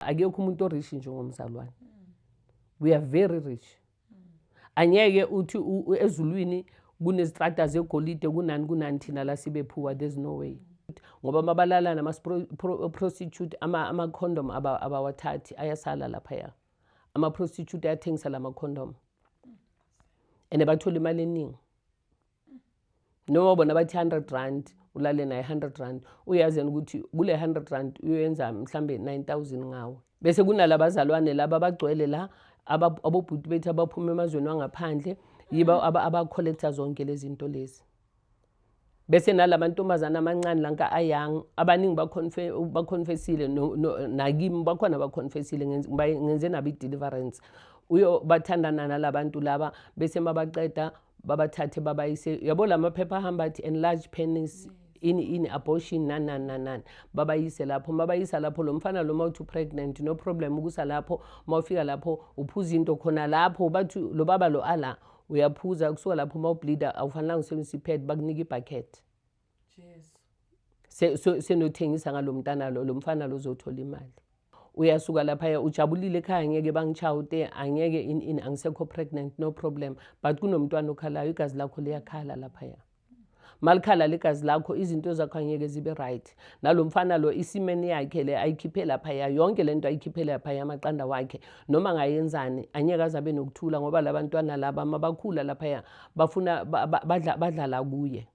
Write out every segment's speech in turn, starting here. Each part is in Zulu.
akekho umuntu orishi njengomzalwane we are very rich angeke uthi ezulwini kunezitrata zegolide kunani kunani thina la sibe phuwa there's no way ngoba mabalala nama-prostitute ama-condom abawathathi ayasala laphaya ama-prostitute ayathengisa la ma-condom and bathole imali eningi noma bona bathi 100 rand ulale naye 100 rand uyazi yena ukuthi kule 100 rand uyoyenza mhlambe 9000 ngawo bese kunalaba bazalwane laba abagcwele la abobhuti bethu abaphuma emazweni wangaphandle yiba mm. abacollector zonke lezi zinto lezi bese nalamantombazana amancane lanka ayang abaningi baconfessile nakimi bakhona baconfessile ngenze nabo i-deliverance uyo bathandana nalabantu laba bese mabaqeda babathathe babayise yabo la maphepha ahamba athi enlarge penis ini ini abortion nani nani nani nani babayise lapho mabayisa lapho lo mfana lo mawuthi pregnant no problem ukusa lapho mawufika lapho uphuza into khona lapho bathi lo baba lo ala uyaphuza kusuka lapho mawubleeda awufanelanga usebenzisa ipad bakunika ibucket Jesu. Se- so- Senothengisa ngalomntana lo, lomfana lo uzothola imali. Uyasuka lapha ujabulile ekhaya ngeke bangishawute, angeke in in angisekho pregnant no problem. But kunomntwana okhalayo igazi lakho liyakhala lapha ya. Malikhala legazi lakho izinto zakho angeke zibe right. Nalomfana lo isimeni yakhe le ayikhiphe lapha ya yonke lento ayikhiphe lapha ya maqanda wakhe noma ngayenzani angeke azabe nokuthula ngoba labantwana laba mabakhula lapha ya bafuna ba- ba- badla badlala kuye.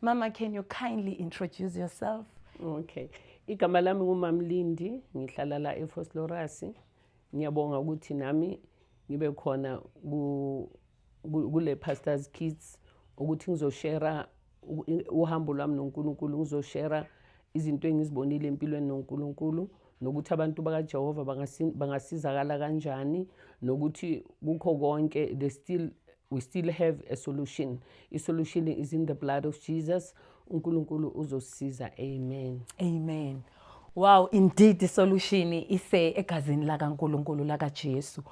Mama, can you kindly introduce yourself? Okay. Igama lami nguMamlindi, ngihlala la eFoslorasi. Ngiyabonga ukuthi nami ngibe khona kule Pastors Kids ukuthi ngizoshare uhambo lwami noNkulunkulu, ngizoshare izinto engizibonile empilweni noNkulunkulu nokuthi abantu bakaJehova bangasizakala kanjani nokuthi kukho konke they still We still have a solution. I solution is in the blood of Jesus. UNkulunkulu uzosisiza. Amen. Amen. Wow, indeed the solution ise egazini la kaNkulunkulu la kaJesu.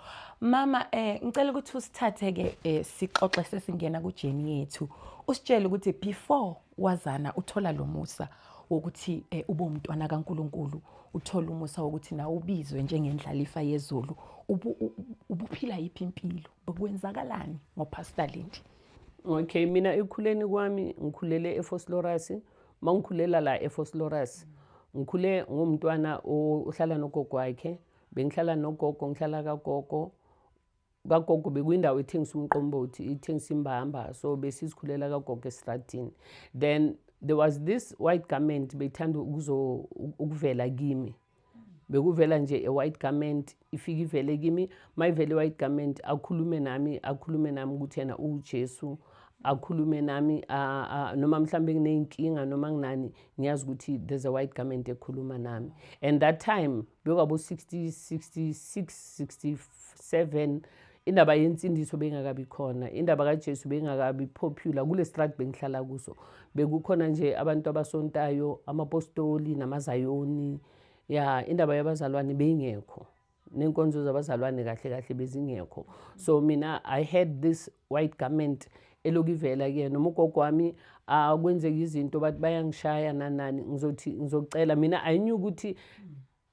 Mama eh ngicela ukuthi usithathe ke eh, sixoxe sesingena ku journey yethu. Usitshele ukuthi before wazana uthola lo musa wokuthi eh, ube umntwana kaNkulunkulu, uthola umusa wokuthi nawe ubizwe njengendlalifa yezulu. Ubuphila yiphi impilo? Kwenzakalani ngoPastor Lindi? Okay, mina ekukhuleni kwami ngikhulele eFoslorus. Mangikhulela la eFoslorus. Ngikhule ngomntwana ohlala nogogo wakhe. Bengihlala nogogo, ngihlala kagogo. kagogo bekwindawo ethengisa umqombothi ithengisa imbamba so besizikhulela kagogo esitradini then there was this white garment beyithanda ukuvela kimi bekuvela nje e-white garment ifike ivele kimi uma ivele i-white garment akhulume nami akhulume nami ukuthi yena uwujesu akhulume nami noma mhlawumbe nginey'nkinga noma nginani ngiyazi ukuthi there's a white garment ekhuluma nami and that time bekwabo-60 66 67 indaba yensindiso beyingakabi khona indaba kajesu beyingakabi popular kule strat bengihlala kuso bekukhona nje abantu abasontayo amapostoli namazayoni ya indaba yabazalwane beyingekho nenkonzo zabazalwane kahle kahle bezingekho so mina i had this white garment elokivela kuyena noma ugogo wami akwenzeka izinto bathi bayangishaya nanani ngizothi ngizocela mina i knew ukuthi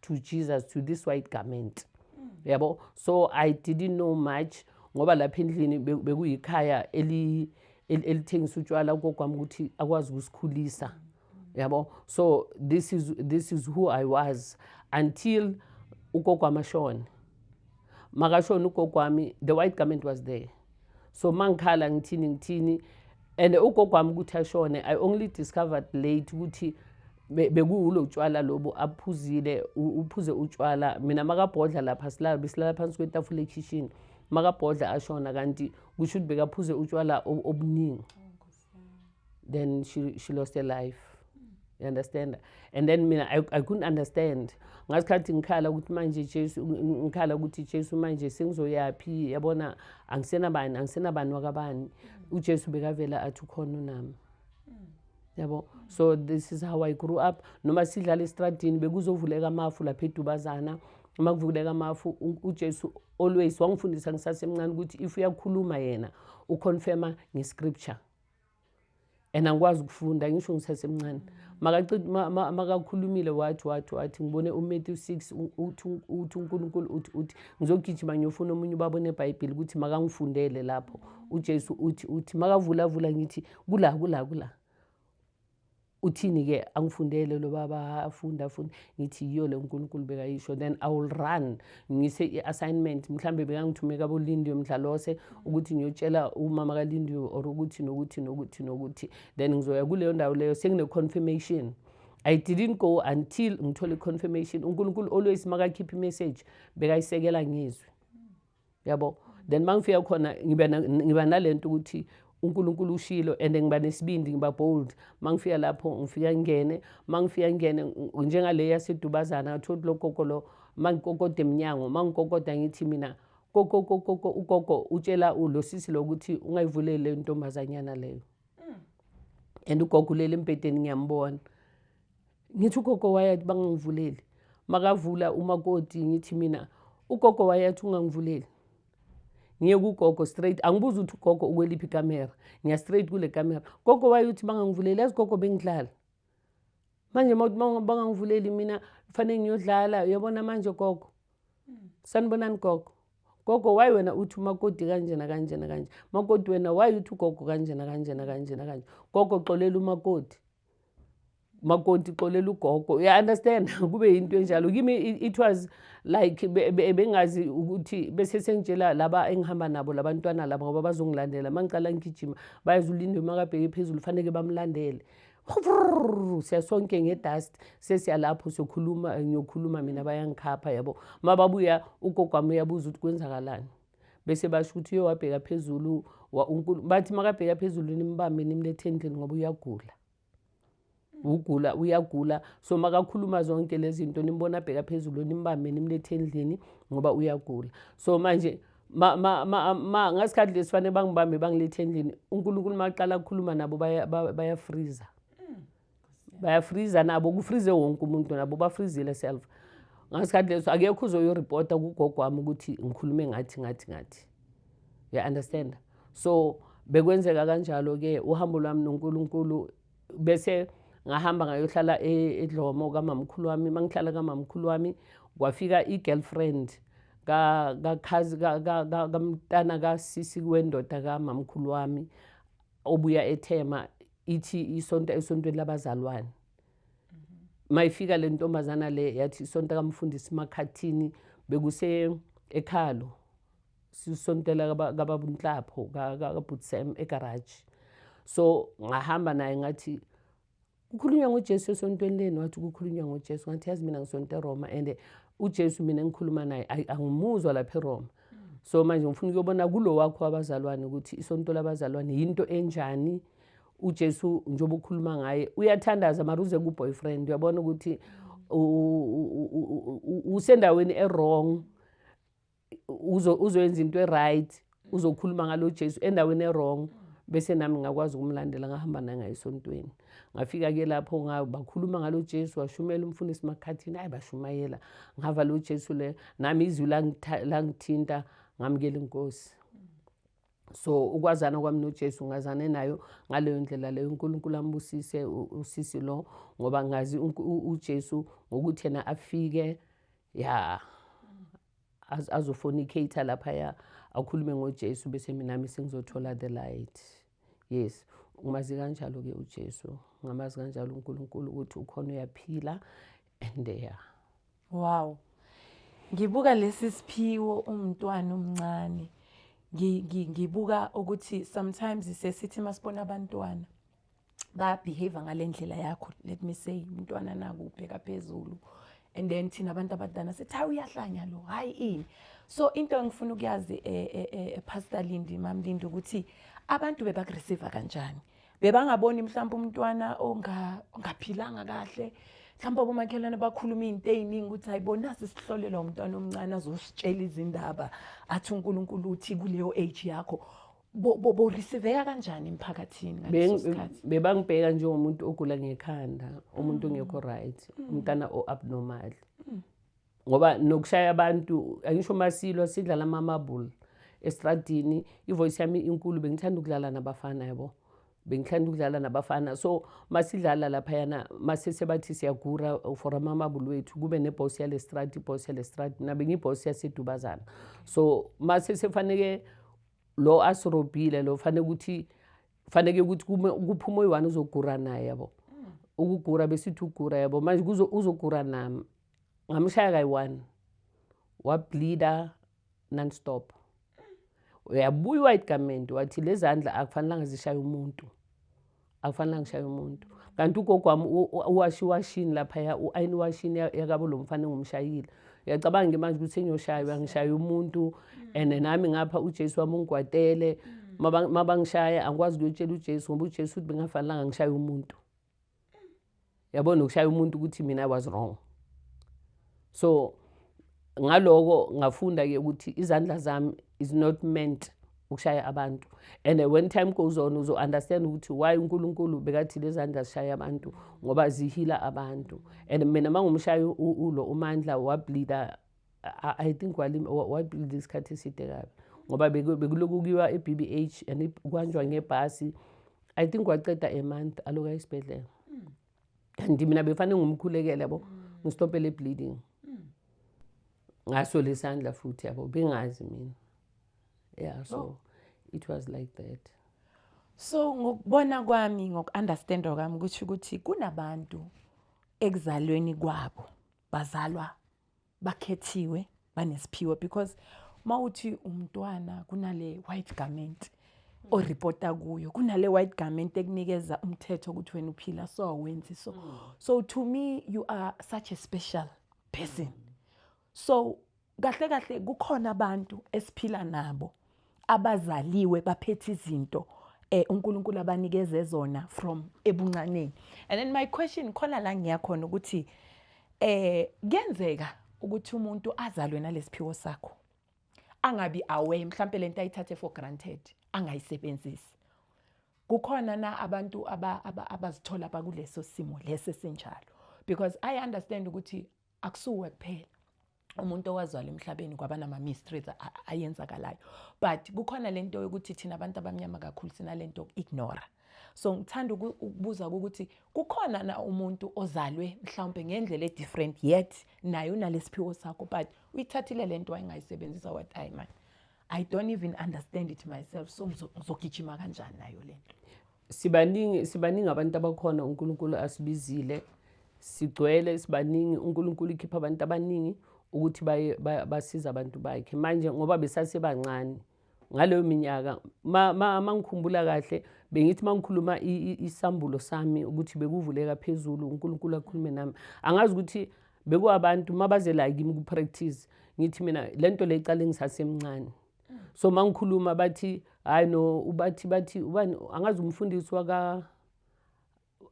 to jesus to this white garment mm. yabo so i didn't know much ngoba lapha endlini bekuyikhaya eli elithengisa utshwala kokwami ukuthi akwazi ukusikhulisa yabo so this is this is who i was until ugogo amashona makashona ugogo wami the white garment was there so mangikhala ngithini ngithini and ugogo wami ukuthi ashone i only discovered late ukuthi bekuwulo utshwala lobo aphuzile uphuze utshwala mina makabhodla lapha silala besilala phansi kwetafula ekhishini makabhodla ashona kanti kusho ukuthi bekaphuze utshwala obuningi then she, she lost her life you understand and then mina I, i couldn't understand ngasikhathi ngikhala ukuthi manje jesu ngikhala ukuthi jesu manje sengizoyaphi yabona angisenabani angisenabani wakabani ujesu bekavela athi ukhona unami yabo so this is how i grew up noma sidlala esitradini bekuzovuleka amafu lapha edubazana uma kuvuleka amafu ujesu Always wangifundisa ngisasemncane ukuthi if uyakhuluma yena uconfirma ngescripture and angikwazi ukufunda ngisho ngisasemncane makakhulumile wathi wathi wathi ngibone umatthew six uthi unkulunkulu uthi uthi ngizogijima ngiyofuna omunye ubaba onebhayibheli ukuthi makangifundele lapho ujesu uthi uthi makavulavula ngithi kula kula kula uthini-ke angifundele lo baba afunde afunde ngithi yiyo le unkulunkulu bekayisho then i will run ngise i-assignment mhlawumbe bekangithume kabolindiwe mdlalose ukuthi ngiyotshela umama kalindiwe or ukuthi nokuthi nokuthi nokuthi then ngizoya kuleyo ndawo leyo sengine-confirmation I didn't go until ngithole confirmation uNkulunkulu always makakhipha imessage bekayisekela ngizwe yabo then uma ngifika khona ngiba nale nto ukuthi uNkulunkulu ushilo and ngiba nesibindi ngiba bold mangifika lapho ngifika ngingene mangifika ngingene njengale yasedubazana ngathola ukuthi logogo lo mangikokoda emnyango mangikokoda ngithi mina koko koko ugogo utshela lo sisi lokuthi ungayivuleli le ntombazanyana leyo and ugogo ulele embhedeni ngiyambona Ngithi ugogo wayathi bangangivuleli. Makavula umakoti ngithi mina ugogo wayathi ungangivuleli. Ngiye kugogo straight angibuza ukuthi ugogo ukweliphi ikamera. Ngiya straight kule kamera. Gogo wayothi bangangivuleli yazi gogo bengidlala. Manje mawuthi bangangivuleli mina kufanele ngiyodlala uyabona manje gogo. Sanibonani gogo. Gogo why wena uthi umakoti kanjena kanjena kanje. Makoti wena why uthi ugogo kanjena kanjena kanjena kanje. Gogo xolela umakoti. makonti xolela ugogo uya understand kube into enjalo kimi it was like bengazi ukuthi bese sengitshela laba engihamba nabo labantwana laba ngoba bazongilandela mangiqala ngigijima bayazulindwe makabheke phezulu faneke bamlandele siya sonke ngedust sesiyalapho sokhuluma ngiyokhuluma mina bayangikhapha yabo mababuya ugogo wami uyabuza ukuthi kwenzakalani bese basho ukuthi uye wabheka phezulu bathi makabheka phezulu nimbambe nimlethe endlini ngoba uyagula ugula uyagula so makakhuluma zonke lezi zinto nimbona abheka phezulu nimbambe nimlethe endlini ngoba uyagula so manje ma ma ma ma ngasikhathi lesifanele bangibambe bangilethe endlini uNkulunkulu maqala ukukhuluma nabo baya baya freezer bayafriza nabo kufrize wonke umuntu nabo bafrizile self ngasikhathi leso akekho uzoyoripota kugogo wami ukuthi ngikhulume ngathi ngathi ngathi ya understand so bekwenzeka kanjalo-ke uhambo lwami nonkulunkulu bese ngahamba ngayohlala e-, edlomo kamamkhulu wami uma ngihlala kamamkhulu wami kwafika i-girlfriend kamntana kasisi wendoda kamamkhulu wami obuya ethema ithi isonta esontweni labazalwane mayifika le ntombazana le yathi isonta kamfundisi makhathini bekuse ekhalo sisontela kababunhlapho kabhutisem egaraji so ngahamba naye ngathi kukhulunywa ngojesu esontweni leni wathi kukhulunywa ngojesu ngathi yazi mina ngisonta eroma and ujesu mina engikhuluma naye angimuzwa lapha eroma so manje ngifuna ukuyobona kulo wakho wabazalwane ukuthi isonto labazalwane yinto enjani uJesu njengoba ukhuluma ngaye uyathandaza mara uze kuboyfriend uyabona ukuthi usendaweni ewrong uzoyenza into eright uzokhuluma ngalo Jesu endaweni ewrong bese nami ngakwazi ukumlandela ngahamba nangaye esontweni ngafika-ke lapho bakhuluma ngalo jesu washumela umfundisi makhathini ayi bashumayela ngava lo jesu le nami izwi langithinta ngamukela inkosi so ukwazana kwami nojesu ngazane nayo ngaleyo ndlela leyo unkulunkulu ambusise usisi lo ngoba ngazi ujesu ngokuthi yena afike ya azofonicate laphaya akhulume ngojesu bese minami sengizothola the light yes umazi kanjalo-ke ujesu ngamazi kanjalo unkulunkulu ukuthi ukhona uyaphila and ya wow ngibuka lesi siphiwo umntwana omncane ngibuka ukuthi sometimes sesithi masibona abantwana babehave ngale ndlela yakho let me say umntwana naku ubheka phezulu and then thina abantu abadala sithi hayi uyahlanya lo hayi ini so into engifuna ukuyazi e, e, e, epastor Lindi mam Lindi ukuthi abantu bebakureceive kanjani bebangaboni mhlawumbe umntwana ongaphilanga kahle mhlawumbe abomakhelwane bakhuluma izinto eziningi ukuthi ayibona sisihlolela umntwana omncane azositshela izindaba athi uNkulunkulu uthi kuleyo age yakho borisiveka kanjani emphakathini ngaleso sikhathi bebangibheka njengomuntu ogula ngekhanda umuntu ongekho mm. right mm. umntana o-abnormal mm. ngoba nokushaya abantu angisho uma silwa sidlala amamabula estradini ivoice yami inkulu bengithanda ukudlala nabafana yabo bengithanda ukudlala nabafana so masidlala laphayana masesebathi siyagura for amamabulu wethu kube nebhosi yale strati ibhosi yale strati mina bengiyibhosi yasedubazana so masesefaneke lo asirobhile lo fanele ukuthi faneke ukuthi kuphuma oyi-one uzogura naye yabo ukugura besithi ugura yabo manje uzogura nami ngamshaya kayi-one wableeda non-stop uyabuya uwayigamende wathi lezandla akufanelanga zishaye umuntu akufanele ngishaye umuntu kanti ugogo wami uwashi iwashini laphaya u-ayini iwashini yakabo lo mfana engumshayile uyacabanga ke manje ukuthi engiyoshaywa ngishaya umuntu and nami ngapha ujesu wami ungigwadele mabangishaya angikwazi ukuyotshela ujesu ngoba ujesu uthi bengafanelanga ngishaye umuntu yabo nokushaya umuntu ukuthi mina i was wrong so ngaloko ngafunda ke ukuthi izandla zami is not meant ukushaya abantu and when time goes on uzo understand ukuthi why uNkulunkulu bekathi lezandla zishaya abantu ngoba zihila abantu and mina mangumshaya ulo umandla wableeda I, I think wabuilda isikhathi eside kabi ngoba bekuloku kuyiwa e-b b h and kuhanjwa ngebhasi i think waceda a month aloku ayesibhedlela and mina befanele ngumkhulekele yabo ngistopele bleeding ngaso lesandla futhi yabo bengazi mina yeah so oh. it was like that so ngokubona kwami ngoku-understanda kwami ukuthi ukuthi kunabantu ekuzalweni kwabo bazalwa bakhethiwe banesiphiwo because mawuthi umntwana kunale white garment oripota kuyo kunale white garment ekunikeza umthetho ukuthi wena uphila so wenzi so mm. so to me you are such a special person so kahle kahle kukhona abantu esiphila nabo abazaliwe baphethe izinto eh uNkulunkulu abanikeze zona from ebuncaneni and then my question khona la ngiya khona ukuthi eh kuyenzeka ukuthi umuntu azalwe nalesiphiwo sakho angabi aware mhlawumbe lento ayithathe for granted angayisebenzisi kukhona na abantu abazithola aba, aba bakuleso simo lesi sinjalo because i understand ukuthi akusuwe kuphela umuntu owazwala emhlabeni kwaba nama-mysteries ayenzakalayo but kukhona le nto yokuthi thina abantu abamnyama kakhulu sinale nto ignora so ngithanda ukubuza ukuthi kukhona na umuntu ozalwe mhlawumbe ngendlela e-different yet naye unalesiphiwo sakho but uyithathile le nto wayengayisebenzisa wathi ayi mani i don't even understand it myself so ngizogijima kanjani nayo le nto Sibaningi sibaningi abantu abakhona uNkulunkulu asibizile sigcwele sibaningi uNkulunkulu ikhipha abantu abaningi ukuthi baye basiza abantu bakhe manje ngoba besasebancane ngaleyo minyaka mangikhumbula kahle bengithi mangikhuluma isambulo sami ukuthi bekuvuleka phezulu uNkulunkulu akhulume nami angazi ukuthi bekuwabantu mabaze la kimi ku practice ngithi mina lento le iqale ngisasemncane so mangikhuluma bathi hayi no ubathi bathi ubani angazi umfundisi waka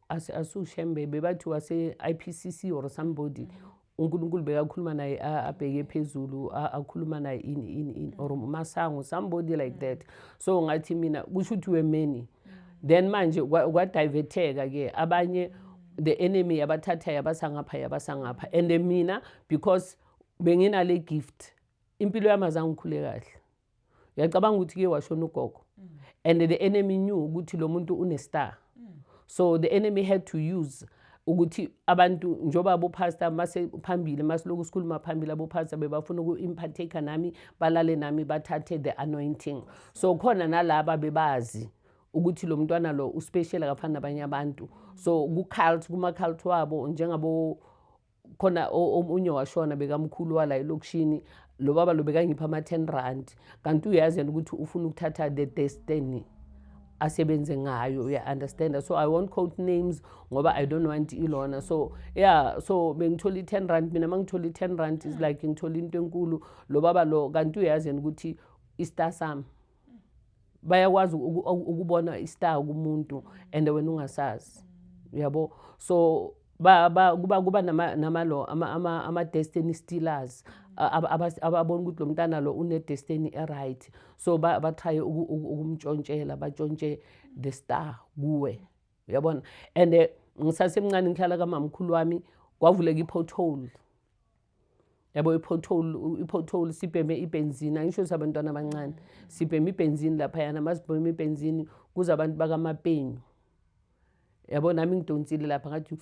asushembebe bathi wase-ipcc or somebody mm -hmm. uNkulunkulu bekakhuluma naye abheke phezulu akhuluma naye in in in or umasango somebody like mm. that so ngathi mina kusho ukuthi we many mm. then manje kwadiverteka ke abanye mm. the enemy yabathatha yabasa ngapha yabasa ngapha and mina because benginale gift impilo yami azange ngikhule kahle uyacabanga ukuthi kuye washona ugogo mm. and the enemy knew ukuthi lo muntu unestar mm. so the enemy had to use ukuthi abantu njengoba abopastor mase phambili masiloku sikhuluma phambili abopastor bebafuna uku-impartaker nami balale nami bathathe the anointing so khona nalaba bebazi ukuthi lo mntwana lo uspecial akafani nabanye abantu so kucult kuma-cult wabo njengabo khona omunye washona bekamkhulu wala elokishini lo baba lo bekangipha ama-ten rand kanti uyazi yena ukuthi ufuna ukuthatha the destiny asebenze ngayo uya-understanda so i won't quote names ngoba i don't want ilona so yeah so bengithola i-ten rand mina ma ngithola i-ten rand is like ngithola into enkulu lo baba lo kanti uyazi yena ukuthi istar sami bayakwazi ukubona istar kumuntu and wena ungasazi uyabo so ba, ba, kuba kuba namalo ama, ama, ama destiny stealers ababona ukuthi lo mntana lo une-destiny eright so bathaye ukumtshontshela batshontshe the star kuwe uyabona and eh, ngisasemncane ngihlala kamamkhulu wami kwavuleka i-pothole yabo i-pothole i-pothole sibheme ibenzini angisho ukuthi abantwana abancane sibheme ibenzini laphayana masibheme ibenzini kuze abantu bakamapenyu yabo nami ngidonsile lapha ngathi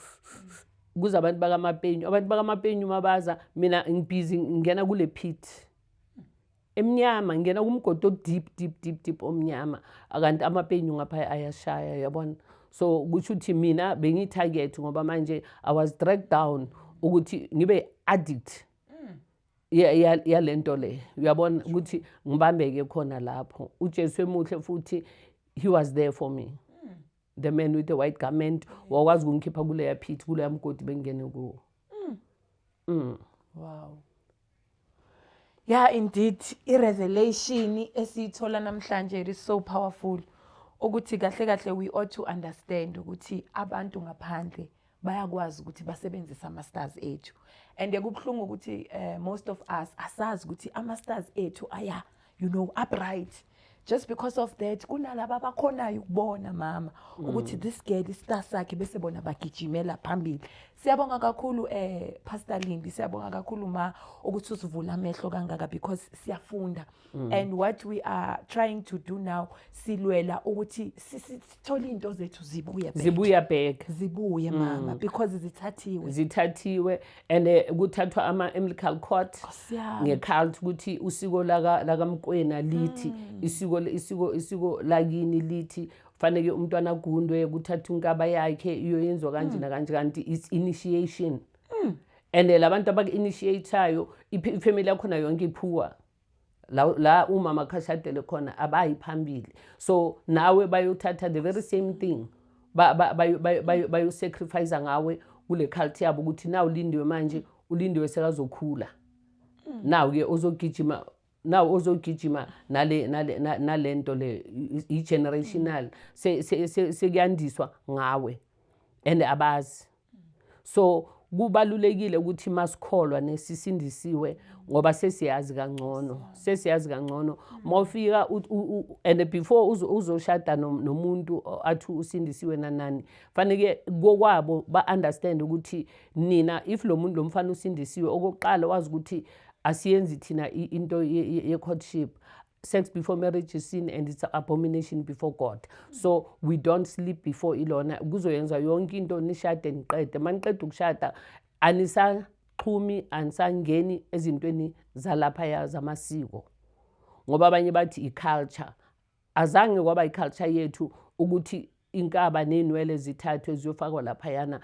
kuze abantu bakamapenyu abantu bakamapenyu mabaza mina ngibhizi ngingena kule pit emnyama ngingena kumgodi odeep deep deep deep omnyama akanti amapenyu ngapha ayashaya yabona so kusho ukuthi mina bengiyi-target ngoba manje i was dragged down ukuthi ngibe addict mm. yale nto le uyabona ukuthi ngibambeke khona lapho ujesu emuhle futhi he was there for me the man with the white garment wakwazi ukungikhipha kuleya pit kuleya mgodi bengingene kuwo mm. mm. wow yeah indeed i-revelation esiyithola namhlanje it is so powerful ukuthi kahle kahle we ought to understand ukuthi abantu ngaphandle bayakwazi ukuthi basebenzise ama-stars ethu and kubuhlungu ukuthi uh, most of us asazi ukuthi ama-stars ethu aya you know upright just because of that kunalaba abakhonayo ukubona mama mm. ukuthi this girl istar sakhe bese bona bagijimela phambili siyabonga kakhulu eh pastor Lindi siyabonga kakhulu ma ukuthi usivula amehlo kangaka because siyafunda Mm. and what we are trying to do now silwela ukuthi sithole into zethu zibuye back zibuya back zibuye mm. mama because zithathiwe zithathiwe and eh, kuthathwa ama umbilical cord ngecult ukuthi usiko laka lakamkwena lithi mm. isiko isiko isiko lakini lithi faneke umntwana agundwe kuthatha unkaba yakhe iyoyenziwa kanje nakanje kanti it's initiation and eh, labantu abaku-initiatayo ifamily yakhona yonke iphuwa la, la umama khashadele khona abayi phambili so nawe bayothatha the very same thing bayosacrifice ba, ba, ba, ba, ngawe kule culture yabo ukuthi na ulindiwe manje ulindiwe sekazokhula mm. naw-ke ozogijima naw ozogijima nale nale nalento le i-generational sekuyandiswa ngawe and abazi so kubalulekile ukuthi masikholwa nesisindisiwe ngoba sesiyazi kangcono sesiyazi kangcono mawufika and before uzoshada nomuntu athi usindisiwe nanani faneke kokwabo ba understand ukuthi nina if lo muntu lo mfana usindisiwe okokuqala wazi ukuthi asiyenzi thina into ye courtship sex before marriage is sin and it's abomination before god so we don't sleep before ilona kuzoyenza yonke into nishade niqede uma niqeda ukushada anisaxhumi anisangeni ezintweni zalaphaya zamasiko ngoba abanye bathi i-culture azange kwaba i-culture yethu ukuthi inkaba neynwele zithathwe ziyofakwa laphayana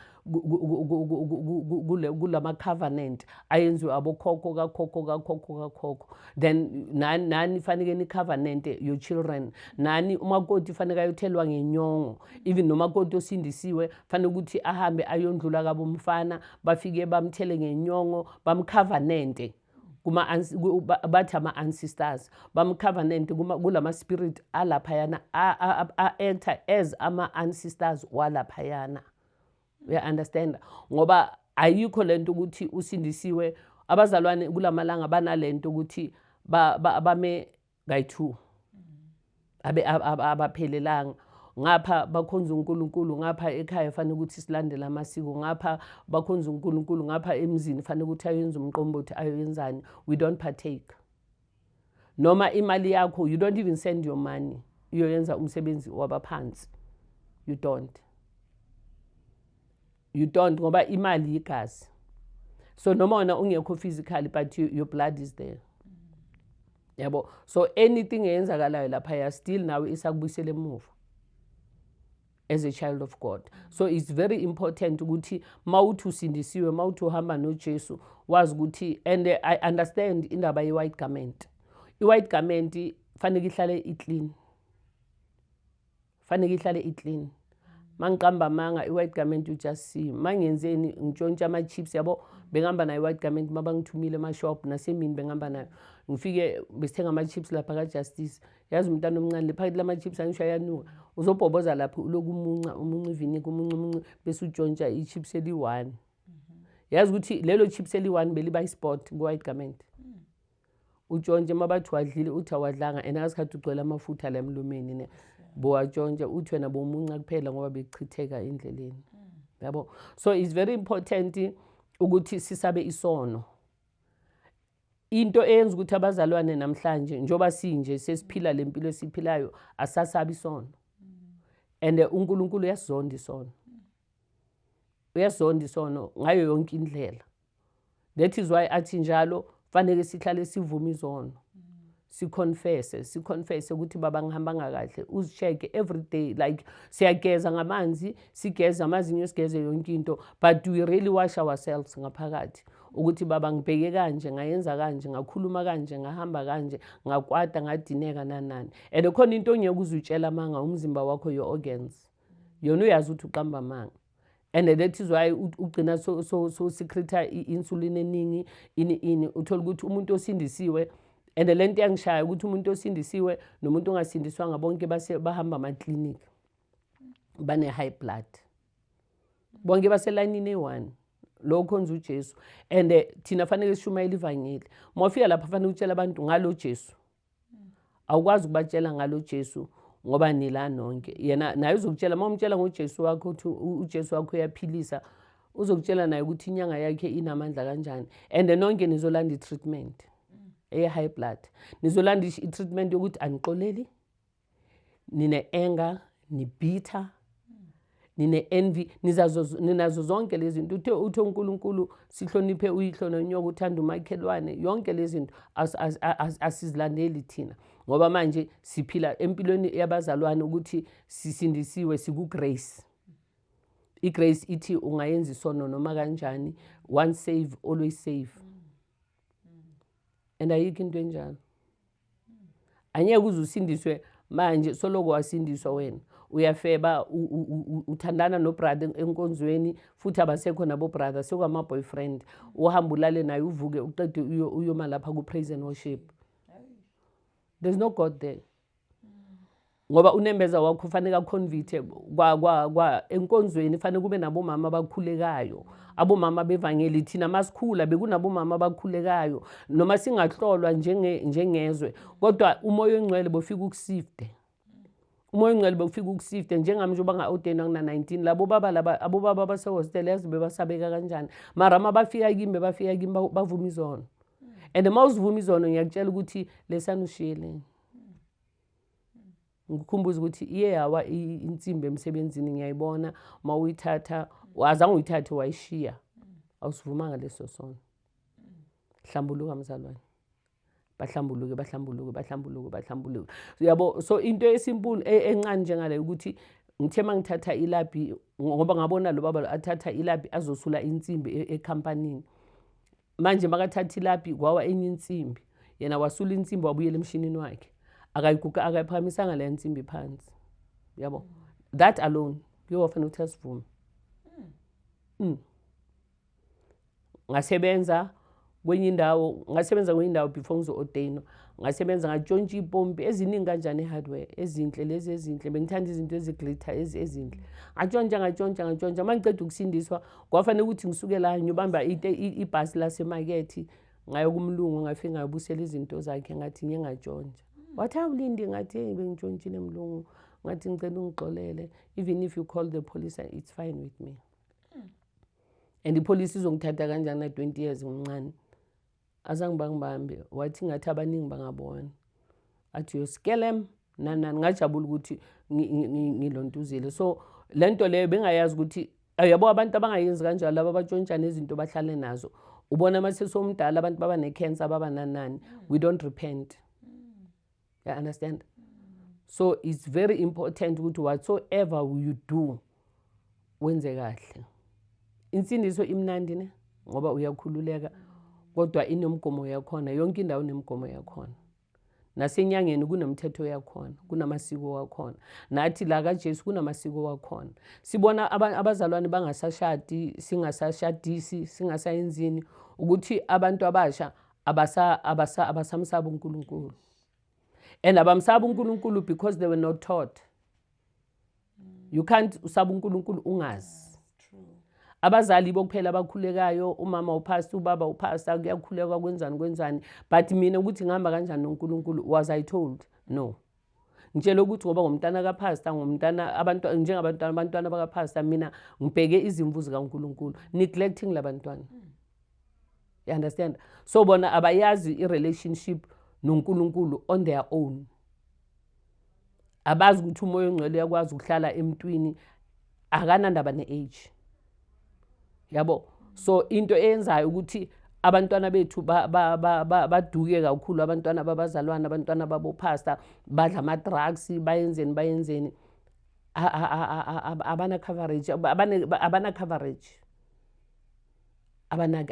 kulama covenant ayenziwe abokhokho kakhokho kakhokho kakhokho then nani nani fanike ni covenant your children nani umakoti fanike ayothelwa ngenyongo even nomakoti osindisiwe fanele ukuthi ahambe ayondlula kabomfana bafike bamthele ngenyongo bamcovenante kuma bathi ama ancestors bam covenant kuma kulama spirit alaphayana a enter as ama ancestors walaphayana you understand ngoba ayikho lento ukuthi usindisiwe abazalwane kulamalanga banalento ukuthi bame kayi-two abaphelelanga ngapha bakhonza uNkulunkulu ngapha ekhaya fanele ukuthi silandele amasiko ngapha bakhonza uNkulunkulu ngapha emzini fanele ukuthi ayenze umqombothi ayoyenzani we don't partake noma imali yakho you don't even send your money uyoyenza umsebenzi wabaphansi you don't you don't ngoba imali yigazi so noma wena ungekho physically but you, your blood is there yabo so anything eyenzakalayo laphaya still nawe isakubuyisela emuva as a child of god so it's very important ukuthi mawuthi usindisiwe mawuthi uhamba nojesu wazi ukuthi and i understand indaba ye-white garment i-white garment faneke ihlale iclean faneke ihlale iclean mangiqamba amanga i-white garment you just see mangenzeni ngitshontsha ama-chips yabo bengihamba nayo i-white garment uma bangithumile emashop nasemini bengihamba nayo ngifike besithenga ama-chips lapha kajustice yazi umntana omncane le phakathi lama-chips angisho ayanuka uzobhoboza lapho uloku umunca umunca ivinika umunca umunca bese utshontsha i-chips eli-one yazi ukuthi lelo chips eli-one beliba i-sport kwi-white garment utshontshe uma bathi wadlile uthi awadlanga and akasikhathi ugcwele amafutha la emlumeni ne bowatshontshe uthi wena bomunca kuphela ngoba bekuchitheka endleleni yabo so it's very important ukuthi sisabe isono into eyenza ukuthi abazalwane namhlanje njoba sinje sesiphila lempilo esiphilayo asasabi isono and uNkulunkulu uyasizonda isono uyasizonda isono ngayo yonke indlela that is why athi njalo fanele sihlale sivume izono siconfesse siconfesse ukuthi baba ngihambanga kahle uzicheke every day like siyageza ngamanzi sigeza amazinyo sigeze yonke into but we really wash ourselves ngaphakathi ukuthi baba ngibheke kanje ngayenza kanje ngakhuluma kanje ngahamba kanje ngakwata ngadineka nanani and khona into ongeke uzutshela amanga umzimba wakho your organs yona uyazi ukuthi uqamba amanga and that is why ugcina so so so secreta insulin eningi ini ini uthola ukuthi umuntu osindisiwe and lento yangishaya ukuthi umuntu osindisiwe nomuntu ongasindiswanga bonke base bahamba ama clinic bane high blood bonke baselayinini eyi-one lo ukhonza ujesu and eh, thina fanele sishumayela ivangeli mawufika lapha fanele utshela abantu ngalo jesu awukwazi ukubatshela ngalo Jesu ngoba nila nonke yena naye uzokutshela uma umtshela ngoJesu wakho ukuthi uJesu wakho uyaphilisa uzokutshela naye ukuthi inyanga yakhe inamandla kanjani and nonke nizolanda i-treatment eye-high blood nizolanda i-treatment yokuthi anixoleli nine-anger nibitha nine-envy ninazo zonke lezi zinto uthe uthe unkulunkulu sihloniphe uyihlo nonyoka uthanda umakhelwane yonke lezi zinto asizilandeli thina ngoba manje siphila empilweni yabazalwane ukuthi sisindisiwe sikugrace igrace ithi ungayenza isono noma kanjani one save always save and ayikho into enjalo angeke uze usindiswe manje soloko wasindiswa wena uyafeba uthandana nobrother enkonzweni futhi abasekho nabobrother sekwama-boyfriend uhamba ulale naye uvuke uqede uyoma lapha ku-praise and worship there's no god there ngoba unembeza wakho kufanele akhonvithe enkonzweni kufanele kube nabomama abakhulekayo abomama bevangeli thina masikhula bekunabomama abakhulekayo noma singahlolwa njengezwe kodwa umoya oyingcwele bofika ukusifte umoya ongcwele bokufika ukusifte njengami njengoba nga-odeni akuna-19 labo baba laba abobaba abasehostela yazi bebasabeka kanjani mara uma bafika kimi bebafika kimi bavuma izono and uma uzivuma izono ngiyakutshela ukuthi lesani ushiyeleni ngikhumbuza ukuthi iye yawa insimbi emsebenzini ngiyayibona uma uyithatha azange uyithathe wayishiya awusivumanga leso sono hlambuluka mzalwane bahlambuluke bahlambuluke bahlambuluke bahlambuluke uyabo so into esimpulu e-, encane njengaleyo ukuthi ngithe uma ngithatha ilabhi ngoba ngabona lo baba athatha ilabhi azosula insimbi e-, ekhampanini e manje makathatha ilapi kwawa enye insimbi yena wasula insimbi wabuyela emshinini wakhe akayiguga akayiphakamisanga leya nsimbi phansi yabo that alone kuyowafanele ukuthi asivume mm. ngasebenza kwenye indawo ngasebenza kwenye indawo before ngizo-ordainwa ngasebenza ngatshontsha ipompi eziningi kanjani i-hardware ezinhle lezi ezinhle bengithanda izinto eziglitter ezinhle ngatshontsha ngatshontsha ngatshontsha uma ngiceda ukusindiswa kwafanele ukuthi ngisuke la ngiyobamba ibhasi lasemakethe ngayokumlungu ngafike ngayobusela izinto zakhe ngathi ngiye ngatshontsha wathi awulindi ngathi eyi bengitshontshile mlungu ngathi ngicela ungixolele even if you call the police it's fine with me and ipolice izongithatha kanjani na-twenty years ngimncane Azange bangibambe wathi ngathi abaningi bangabona. Athi uyosikelem nani nani ngajabula ukuthi ngilontuzile. So lento leyo bengayazi ukuthi yabo abantu abangayenzi kanjalo laba abatshontshana izinto bahlale nazo. Ubona uma sesomdala abantu baba ne-cancer baba nanani. We don't repent. you understand so it's very important ukuthi whatsoever you do wenze kahle insindiso imnandi ne ngoba uyakhululeka kodwa inomgomo yakhona yonke indawo inemgomo yakhona nasenyangeni kunomthetho yakhona kunamasiko wakhona nathi la kajesu kunamasiko wakhona sibona abazalwane bangasashadi singasashadisi singasayenzini ukuthi abantu abasha abasa abasa abasamsaba uNkulunkulu and abamsaba uNkulunkulu because they were not taught you can't usaba uNkulunkulu ungazi abazali bokuphela abakhulekayo umama upastor ubaba upastor kuyakhulekwa kwenzani kwenzani but mina ukuthi ngihamba kanjani noNkulunkulu was i told no ngitshele ukuthi ngoba ngumntana kapastor ngumntana abantu njengabantwana abantwana bakapastor mina ngibheke izimvu zikaNkuluNkulu neglecting labantwana you understand so bona abayazi irelationship noNkuluNkulu on their own abazi ukuthi umoya ongcwele uyakwazi ukuhlala emntwini akanandaba ne-age yabo so into eyenzayo ukuthi abantwana bethu baduke kakhulu abantwana babazalwane abantwana babopastor badla ama-drugs bayenzeni bayenzeni abana-coverage abana-coverage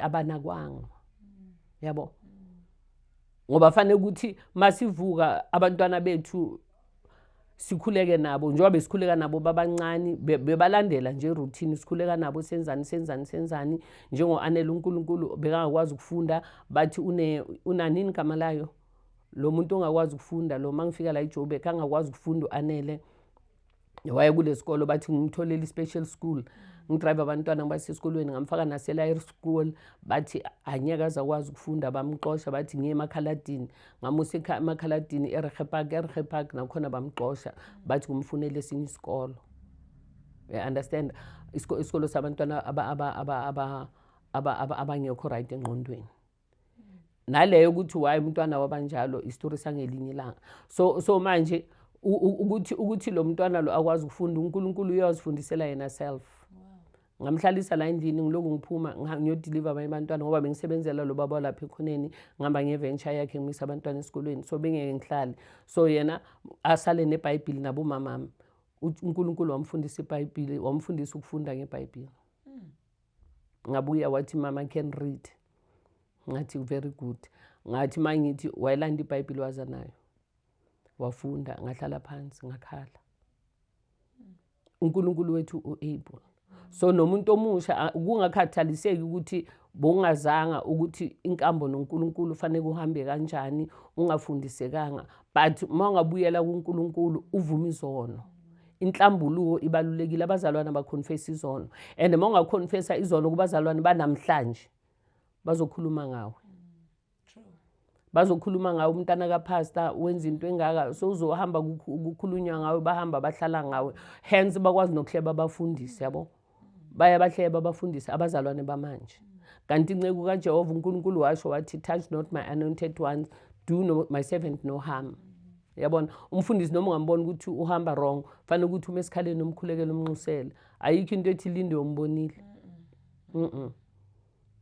abanakwanga yabo ngoba fanele ukuthi masivuka abantwana bethu sikhuleke nabo njengoba besikhuleka nabo babancane bebalandela nje routine sikhuleka nabo senzani senzani senzani njengo-anele unkulunkulu bekangakwazi ukufunda bathi unanini igama layo lo muntu ongakwazi ukufunda lo ma ngifika la ijobek angakwazi ukufunda u-anele waye kule sikolo bathi ngimtholele i-special school ngidrive abantwana ngibase esikolweni ngamfaka nase-liar school bathi anyeke azakwazi ukufunda bamxosha bathi ngiye emakhaladini ngamusa emakhaladini erehe park erehe park nakhona bamxosha bathi kumfunele esinye isikolo understand isikolo sabantwana abangekho right engqondweni naleyo ukuthi why umntwana wabanjalo isitori sangelinye ilanga so so manje ukuthi ukuthi lo mntwana lo akwazi ukufunda uNkulunkulu uyazifundisela yena self ngamhlalisa la endlini ngiloku ngiphuma ngiyodeliver abanye abantwana ngoba bengisebenzela lo baba lapha ekhoneni ngihamba ngeventure yakhe ngimisa abantwana esikolweni so bengeke ngihlale so yena asale nebhayibhili nabomamami unkulunkulu wamfundisa ibhayibhili wamfundisa ukufunda ngebhayibhili ngabuya wathi mama can read ngathi very good ngathi uma ngithi wayelanda ibhayibhile waza nayo wafunda ngahlala phansi ngakhala unkulunkulu wethu u-able so nomuntu omusha kungakhathaliseki ukuthi bowungazanga ukuthi inkambo nonkulunkulu fanele kuhambe kanjani ungafundisekanga but uma ungabuyela kunkulunkulu uvume izono inhlambuluko ibalulekile abazalwane abakhonfesa izono and uma ungakhonfesa izono kubazalwane banamhlanje bazokhuluma ngawe bazokhuluma ngawe umntana kapastor wenza into engaka so uzohamba kukhulunywa ngawe bahamba bahlala ngawe hence bakwazi nokuhleba abafundisi yabo baya bahleba abafundisi abazalwane bamanje kanti inceku kajehova unkulunkulu washo wathi touch not my anointed ones do no, my servant no harm yabona umfundisi noma ungambona ukuthi uhamba wrong fanele ukuthi uma esikhaleni umkhulekele umnxusele ayikho into ethi linde umbonile mm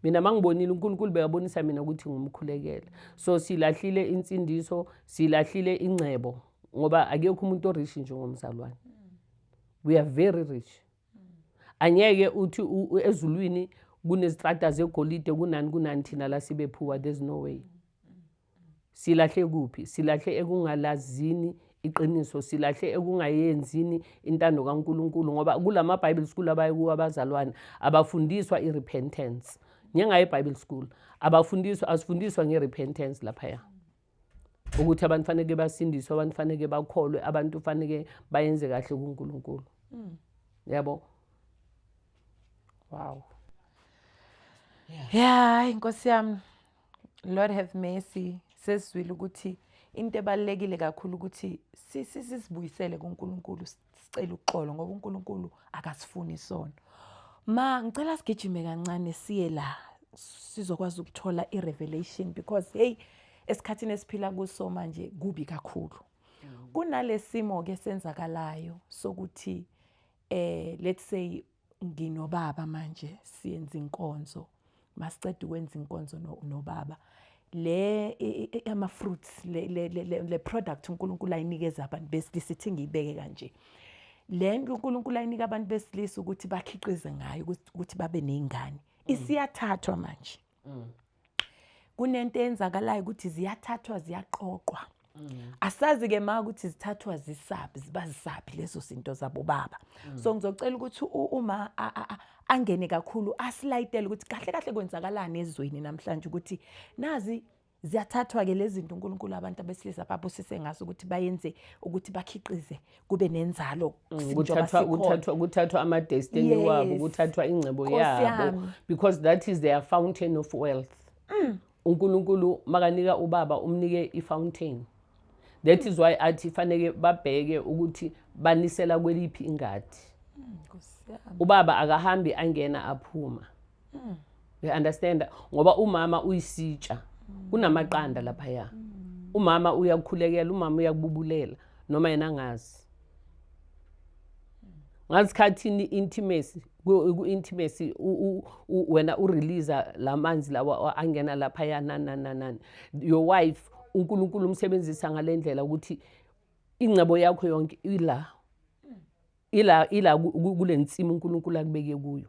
mina mangibonile uNkulunkulu bekabonisa mina ukuthi ngumkhulekele so silahlile insindiso silahlile ingcebo ngoba akekho umuntu orish njengomzalwane we are very rich angeke uthi ezulwini kunezitrata zegolide kunani kunani thina la sibe phuwa there's no way silahle kuphi silahle ekungalazini iqiniso silahle ekungayenzini intando kaNkuluNkulu ngoba kulama Bible school abaye kuwa abazalwane abafundiswa irepentance njengaye Bible school abafundiswa asifundiswa ngerepentance lapha ya ukuthi abantu faneke basindiswe abantu faneke bakholwe abantu faneke bayenze kahle kuNkulunkulu mm. yabo wow yeah inkosi yami lord have mercy sesizwile ukuthi into ebalekile kakhulu ukuthi sisizibuyisele kuNkulunkulu sicela uxolo ngoba uNkulunkulu akasifuni isono ma ngicela sigijime kancane siye la sizokwazi ukuthola i-revelation because hey esikhathini esiphila kuso manje kubi kakhulu mm. kunalesimo ke senzakalayo sokuthi eh let's say nginobaba manje siyenza inkonzo masiceda ukwenza inkonzo nobaba le ama fruits le le le product uNkulunkulu ayinikeza abantu besilisa ithi ngiyibeke kanje le nto uNkulunkulu ayinika abantu besilisa ukuthi bakhiqize ngayo ukuthi babe nezingane isiyathathwa manje mm. kunento eyenzakalayo ukuthi ziyathathwa ziyaqoqwa mm. asazi-ke ma ukuthi zithathwa zisaphi ziba zisaphi lezo zinto zabobaba mm. so ngizocela ukuthi uma angene kakhulu asilayitele ukuthi kahle kahle kwenzakalani ezweni namhlanje ukuthi nazi Ziyathathwa-ke lezi zinto uNkulunkulu abantu abesilisa babusise ngazo ukuthi bayenze ukuthi bakhiqize kube nenzalo mm, kuthathwa ama-destiny wabo kuthathwa ingcebo yabo because that is their fountain of wealth mm. uNkulunkulu makanika ubaba umnike i-fountain that is why athi faneke babheke ukuthi banisela kweliphi ingadi mm, ubaba akahambi angena aphuma mm. uyaunderstanda ngoba umama uyisitsha mm. kunamaqanda laphaya mm. umama uyakukhulekela umama uyakububulela noma yena angazi ngasikhathini intimacy ku-intimacy wena urelease la manzi lawa angena laphaya nanananani your wife unkulunkulu umsebenzisa ngale ndlela ukuthi ingcebo yakho yonke ila ila ila kule nsimu unkulunkulu akubeke kuyo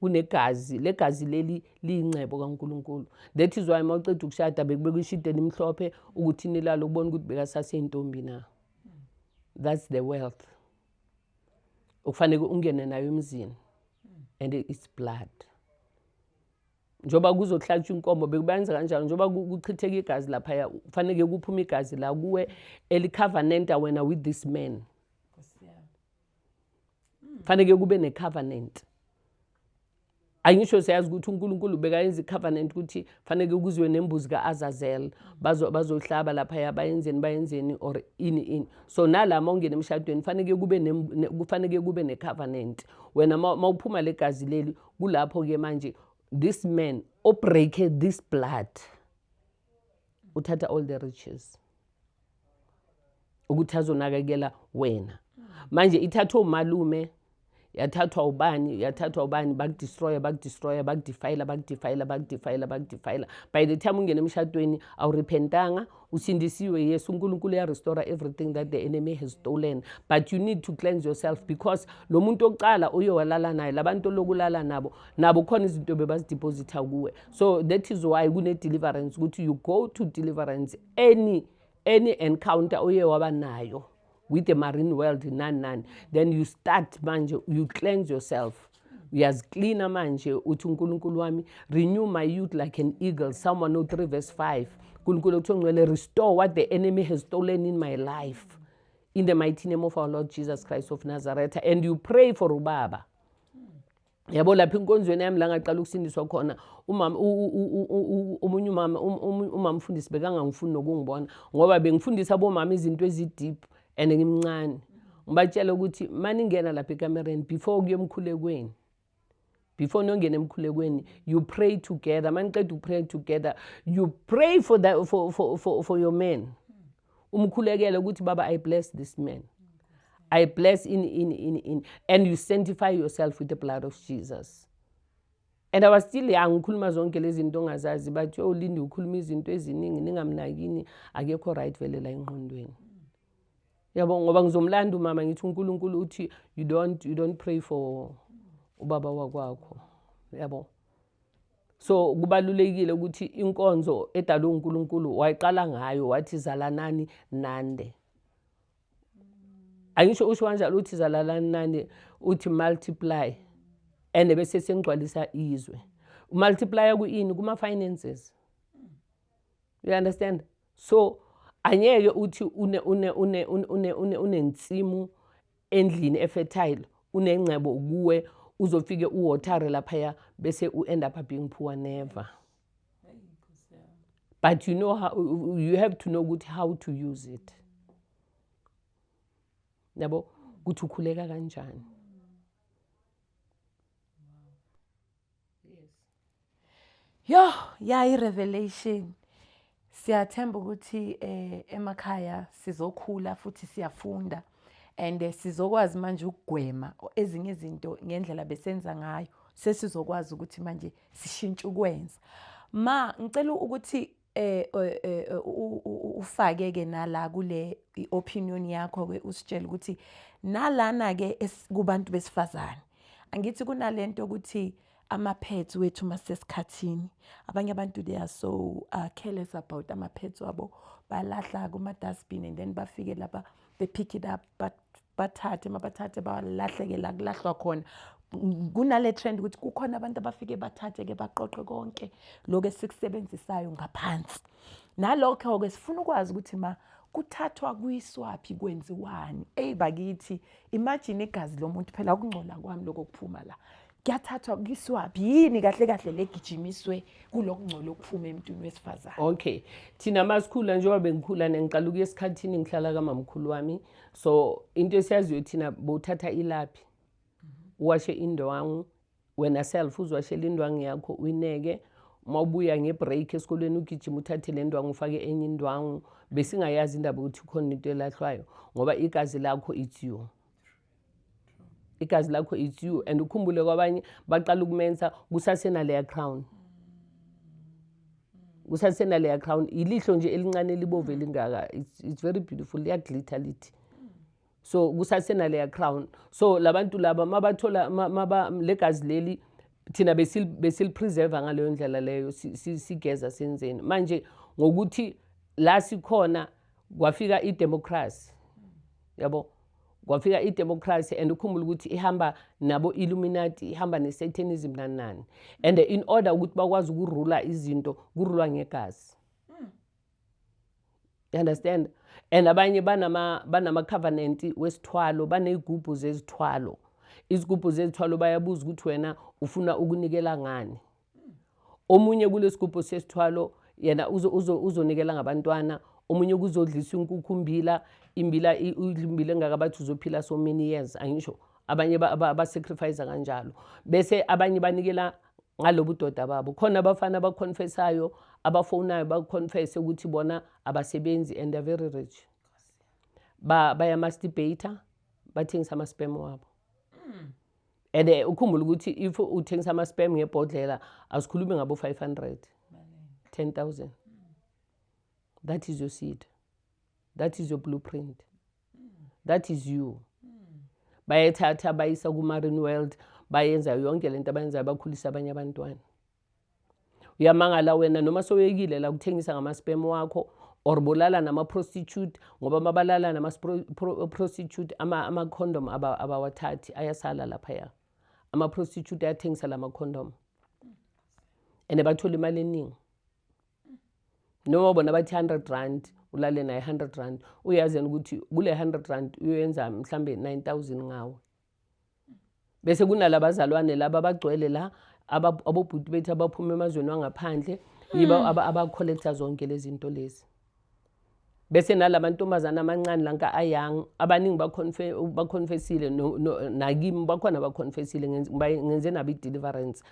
kunegazi legazi leli liyingcebo kaNkulunkulu that is why uma uceda ukushada bekubeka ishidi elimhlophe ukuthi nilale ukubona ukuthi bekasaseyintombi na that's the wealth okufanele ungene nayo emzini and it's blood njengoba kuzohlatshwa inkomo bekubenza kanjalo njengoba kuchitheka igazi laphaya kufanele kuphume igazi la kuwe elicovenanta wena with this man faneke kube ne-covenant angisho siyazi ukuthi uNkulunkulu bekayenza i-covenant ukuthi faneke kuziwe nembuzi ka-Azazel bazohlaba laphaya bayenzeni bayenzeni or ini ini so nalama ungena emshadweni faneke kube kufaneke kube ne-covenant wena mawuphuma legazi leli kulapho ke manje this man obreake this blood uthatha all the riches ukuthi azonakekela wena manje ithathwa umalume yathathwa ubani yathathwa ubani bakudestroya bakudestroya bakudefayila bakudefayila bakudefayila bakudefayila by the time ungena emshadweni awurepentanga usindisiwe yes unkulunkulu uyarestora everything that the enemy has stolen but you need to cleanse yourself because lo muntu okuqala uye walala naye labantu olokulala nabo nabo khona izinto bebazidepositha kuwe so that is why kune-deliverance ukuthi you go to deliverance any any encounter oye waba nayo with the marine world nani nani then you start manje you cleanse yourself uyaziklina manje uthi unkulunkulu wami renew my youth like an eagle psalm 103 verse 5 nkulunkulu okuthiwa ngcwele restore what the enemy has stolen in my life in the mighty name of our lord jesus christ of nazareth and you pray for ubaba yabo lapha enkonzweni yami la ngaqala ukusindiswa khona umama omunye umama um, um, umama mfundisi bekangangifuni nokungibona ngoba bengifundisa abomama izinto ezideep and ngimncane ngibatshela ukuthi maningena lapha ekamereni before kuyemkhulekweni before nongena emkhulekweni you pray together maniqeda uku-pray together you pray for, the, for, for, for, for your man umkhulekele ukuthi baba i bless this man i bless in in in in and you sanctify yourself with the blood of jesus and i was still young ngikhuluma zonke lezi zinto ongazazi bathi olindi oh, ukhuluma izinto eziningi ningamnakini akekho right vele la engqondweni yabo ngoba ngizomlanda umama ngithi unkulunkulu uthi you don't, you don't pray for ubaba wakwakho yabo so kubalulekile ukuthi inkonzo edalwe uNkulunkulu wayiqala ngayo wathi zalanani nande angisho usho kanjalo uthi zalalani nani uthi multiply and bese sengigcwalisa izwe multiplier kuyini kuma finances you understand so anyeke uthi une une une une une unensimu endlini efertile unengcebo kuwe uzofike uwotare laphaya bese u-end up being poor never but you know how, you have to know ukuthi how to use it yabo ukuthi ukhuleka kanjani yes yo yayi revelation siyathemba ukuthi eh emakhaya sizokhula futhi siyafunda and eh, sizokwazi manje ukugwema ezinye izinto ngendlela besenza ngayo sesizokwazi ukuthi manje sishintshe ukwenza ma ngicela ukuthi eh, eh, eh, eh ufake ke nala kule opinion yakho ke usitshela ukuthi nalana ke kubantu besifazane angithi kunalento ukuthi ama-pads wethu masesikhathini abanye abantu they are so uh, careless about ama-pads wabo balahla kuma-dustbin and then bafike laba they pick it up but bathathe mabathathe balahleke la kulahlwa khona kunale trend ukuthi kukhona abantu abafike bathathe ke baqoqe konke lokho esikusebenzisayo ngaphansi nalokho ke sifuna ukwazi ukuthi ma kuthathwa kwiswaphi kwenziwani eyi bakithi imagine igazi lomuntu phela ukungcola kwami lokho kuphuma la kuyathathwa kuyiswaphi yini kahle kahle legijimiswe kulokungcola okuphuma emntwini wesifazane okay thina masikhula njengoba bengikhula nengiqala ukuya esikhathini ngihlala kamamkhulu wami so into esiyaziyo thina bowuthatha ilaphi uwashe indwangu wena self uzwashela indwangu yakho uyineke uma ubuya ngebreak esikolweni ugijima uthathe le ndwangu ufake enye indwangu besingayazi indaba ukuthi khona into elahlwayo ngoba igazi lakho it's you igazi lakho it's you and ukhumbule kwabanye baqala ukumensa kusasenaleya crown kusasenaleya crown yilihlo nje elincane elibovu elingaka it's, it's very beautiful liyaglitha lithi so kusasenaleya crown so labantu laba mabathola maba legazi leli thina besilipreserva ngaleyo ndlela leyo sigeza senzeni manje ngokuthi la sikhona kwafika idemocracy yabo kwafika idemocracy and ukhumbula ukuthi ihamba nabo illuminati ihamba nesatanism nani nani and in order ukuthi bakwazi ukurula izinto kurulwa ngegazi hmm. you understand and abanye banama banama covenant wesithwalo banezigubhu zezithwalo izigubhu zezithwalo bayabuza ukuthi wena ufuna ukunikela ngani omunye kulesigubhu sesithwalo yena uzonikela ngabantwana omunye kuzodlisa inkukhu umbila imbila imbila engaka bathi uzophila so many years angisho abanye abasacrifice kanjalo bese abanye banikela ngalobu doda babo khona abafana abaconfessayo abafonayo baconfesse ukuthi bona abasebenzi and they're very rich ba bayamasturbata bathengisa amaspem wabo mm. and eh, ukhumbula ukuthi if uthengisa ama-spam ngebhodlela asikhulumi ngabo-500 10000 that is your seed that is your blueprint that is you bayethatha bayisa kuma-rin world bayenza yonke le nto abayenzayo bakhulisa abanye abantwana uyamangala wena noma soyekile la kuthengisa ngamaspem wakho or bolala nama-prostitute ngoba mabalala nama-prostitute ama-condom ama abawathathi ayasala laphaya ama-prostitute ayathengisa la ma-condom and bathola imali eningi noma bona bathi 100 rand ulale naye 100 rand uyazi yena ukuthi kule 100 rand uyoyenza mhlambe 9000 ngawo bese kunalabazalwane laba abagcwele la abobhuti bethu abaphuma emazweni wangaphandle yiba hmm. abacollecta zonke lezi zinto lezi bese nalamantombazana amancane lanka ayang abaningi baconfessile nakimi bakhona baconfessile ngenze nabo i-deliverance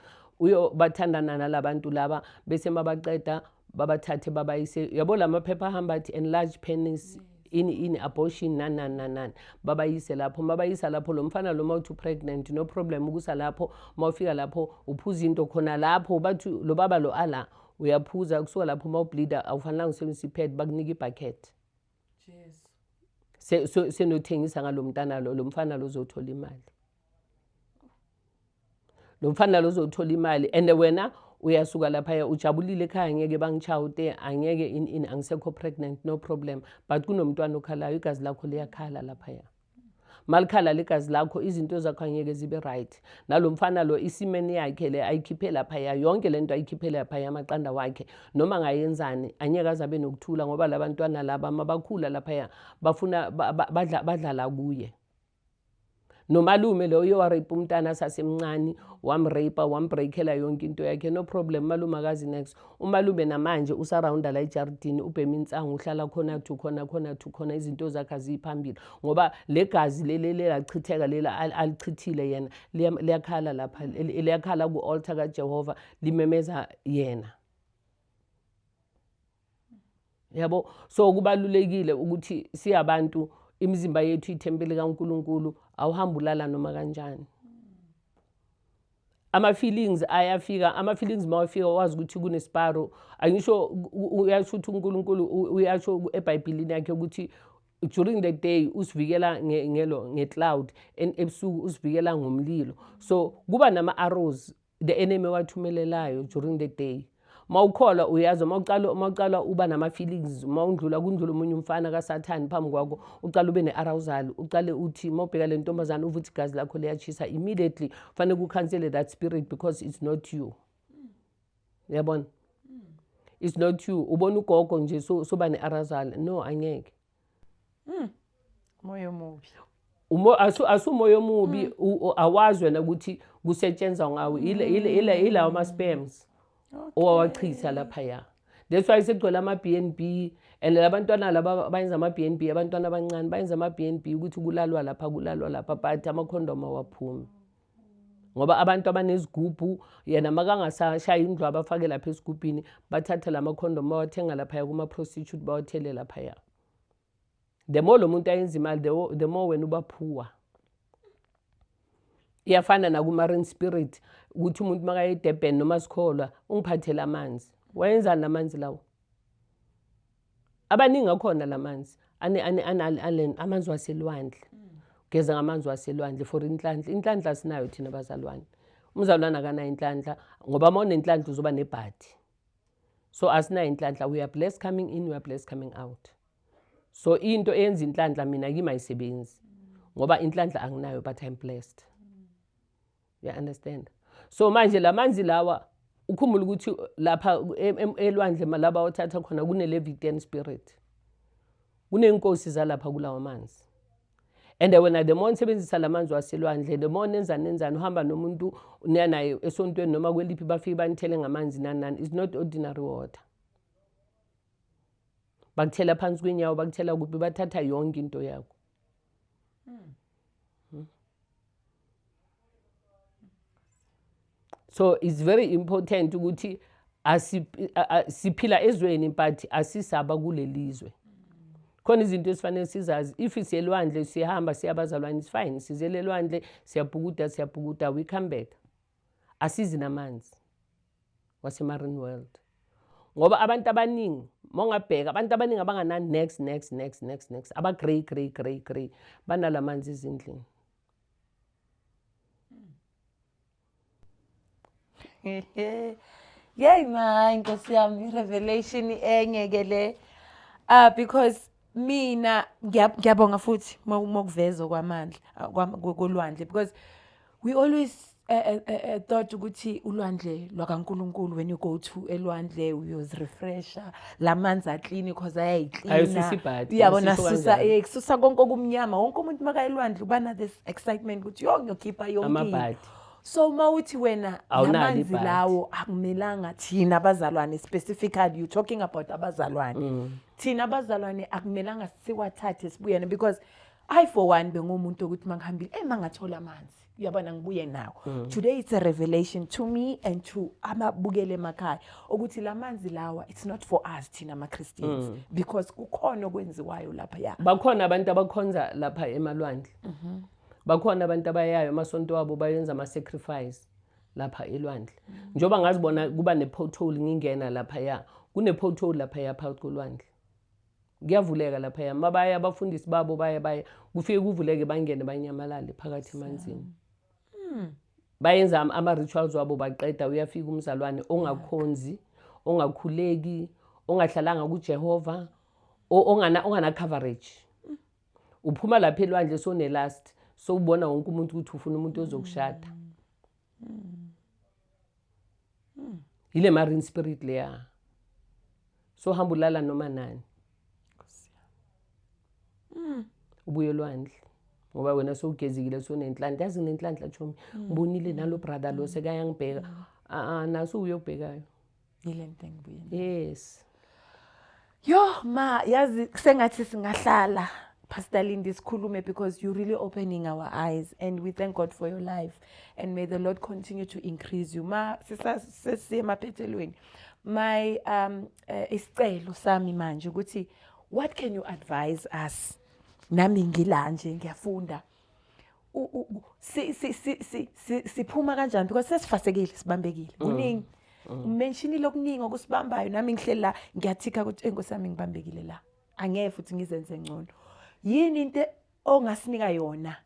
uyobathandana nalabantu laba bese mabaqeda babathathe babayise yabo la maphepha ahamba athi enlarge penis ini ini abortion nani nani nani nani babayise lapho mabayisa lapho lo mfana lo mawuthi pregnant no problem ukusa lapho mawufika lapho uphuza into khona lapho bathi lo baba lo ala uyaphuza kusuka lapho mawubleeda awufanelanga usebenzisa ipad bakunika ibucket Jesu. Se, so, senothengisa ngalomntana lo lomfana lo uzothola imali. Lomfana lo uzothola imali and wena uyasuka lapha ujabulile ekhaya ngeke bangichawute angeke in in angisekho pregnant no problem but kunomntwana okhalayo igazi lakho liyakhala lapha ya. malikhala legazi lakho izinto zakho angeke zibe right nalo mfana lo isimeni yakhe le ayikhiphe laphaya yonke le nto ayikhiphe laphaya amaqanda wakhe noma ngayenzani anyeke aze abe nokuthula ngoba labantwana laba mabakhula laphaya bafuna badlala kuye nomalume lo uye warape umntana sasemncane wamrape wambreakela yonke into yakhe no problem malume akazi next Umalume namanje usarawunda la ejaridini ubhema insangu uhlala khona kuthi ukhona khona kuthi ukhona izinto zakhe aziyiphambili ngoba le gazi leli lelachitheka leli al- alichithile yena liya- liyakhala lapha li- liyakhala ku-altar kajehova limemeza yena yabo so kubalulekile ukuthi siyabantu imizimba yethu ithempeli kaNkuluNkulu awuhambi ulala noma kanjani ama-feelings ayafika ama-feelings uma wafika wazi ukuthi kunesiparo angisho uyasho ukuthi unkulunkulu uyasho ebhayibhilini yakhe ukuthi during the day usivikela ngelo nge-cloud and ebusuku usivikela ngomlilo so kuba nama-arrows the enemy owathumelelayo during the day mawukholwa uyazi uma uqala uma uqala uba nama feelings uma undlula kundlula umunye umfana kasathani phambi kwakho uqala ube nearousal uqale uthi mawubheka le ntombazana uve ukuthi igazi lakho liyachisa immediately kufanele kucancele that spirit because it's not you yabona it's not you ubona ugogo nje soba nearousal no angeke Mm. Moyo omubi. Umo asu asumoyo omubi mm. awazi wena ukuthi kusetshenzwa ngawo ile ile ile ilawo ama sperms. Okay. Owawachitha lapha ya. That's why sekugcwele ama BNB and labantwana laba bayenza ama BNB abantwana abancane bayenza ama BNB ukuthi kulalwa lapha kulalwa lapha but ama condom awaphumi. ngoba abantu abanezigubhu yena makangasashaya indlu abafake lapha esigubhini bathathe la makhondomu bawathenga laphaya kuma-prostitute bawathele laphaya the more lo muntu ayenza imali the more wena uba phuwa iyafana nakumarin spirit ukuthi umuntu makaye edurban noma sikholwa ungiphathele amanzi wayenzani amanzi lawo abaningi akhona la manzi amanzi waselwandle ugeza ngamanzi waselwandle for inhlanhla inhlanhla sinayo thina bazalwane umzalwane akanayo inhlanhla ngoba uma unenhlanhla uzoba nebhadi so asinayo inhlanhla we are blessed coming in we are blessed coming out so into eyenza inhlanhla mina kimi ayisebenzi ngoba inhlanhla anginayo but i'm blessed ya understand so manje lamanzi lawa ukhumbula ukuthi lapha elwandle malaba othatha khona kune-levitan spirit kuney'nkosi zalapha kulawa manzi and wena the more nisebenzisa la manzi waselwandle the more nenzani nenzani uhamba nomuntu niya naye esontweni noma kweliphi bafike banithele ngamanzi nani nani is not ordinary water bakuthela phansi kwinyawo bakuthela kuphi bathatha yonke into yakho so it's very important ukuthi siphila ezweni but asisaba kulelizwe khona izinto esifanele sizazi if siyelwandle siyahamba siyabazalwane is fine sizelelwandle siyabhukuda siyabhukuda we come back asizi namanzi wasemarine world ngoba abantu abaningi mongabheka abantu abaningi abangana next next next next next aba grey grey grey grey banalamanzi izindlini yey ma inkosi yami revelation enye ke le uh, because mina ngiya- ngiyabonga futhi mokuveza okwamandla ah, kwam- ko- kolwandle because we always uh, uh, uh, uh, thought ukuthi ulwandle lwakankulunkulu when you go to elwandle uyozirefresha la manzi aklini cause ayayiklina Ayosisa ibhadi, uyabona ayosisa susa kanjani. eh, kususa konke okumnyama wonke umuntu makaye elwandle uba na this excitement ukuthi yo ngiyokhipha yonke into." Amabhadi. so uma uthi wena Awunalo lamanzi ibhadi. lawo akumelanga thina abazalwane specifically you talking about abazalwane thina abazalwane akumelanga siwathathe sibuyene because i for one bengumuntu ukuthi mangihambile eh mangathola amanzi uyabona ngibuye nawo mm. today it's a revelation to me and to amabukele emakhaya ukuthi lamanzi lawa it's not for us thina ama Christians mm. because kukhona okwenziwayo lapha ya bakhona abantu abakhonza lapha emalwandle mm -hmm. bakhona abantu abayayo amasonto wabo bayenza ama sacrifice lapha elwandle njengoba ngazibona kuba ne-pothole ngingena laphaya kune-pothole laphaya phakathi kolwandle kuyavuleka laphaya mabaya abafundisi babo baya baya kufike kuvuleke bangene banyamalale phakathi emanzini hmm. bayenza ama-rituals wabo baqeda uyafika umzalwane ongakhonzi ongakhuleki ongahlalanga kujehova ongana-coverage uphuma lapha elwandle sonelast sowubona wonke umuntu ukuthi ufuna umuntu ozokushada yile marine spirit leya sohamba ulala noma nani ubuye olwandle ngoba wena sowugezikile sonenhlanhla yazi nginenhlanhla chomi ngibonile nalo brother lo sekayangibheka a-a naso uyobhekayo yile nto engibuye yes yo ma yazi sengathi singahlala Pastor Lindy Skulume because you're really opening our eyes and we thank God for your life and may the Lord continue to increase you. Ma sisemaphethelweni. My um eh, isicelo sami manje ukuthi what can you advise us? Nami ngila nje ngiyafunda. siphuma kanjani because sesifasekile sibambekile mm. kuningi mm. umentionile okuningi okusibambayo nami ngihleli la ngiyathikha ukuthi enkosi yami ngibambekile la angeke futhi ngizenze ngcono yini into ongasinika yona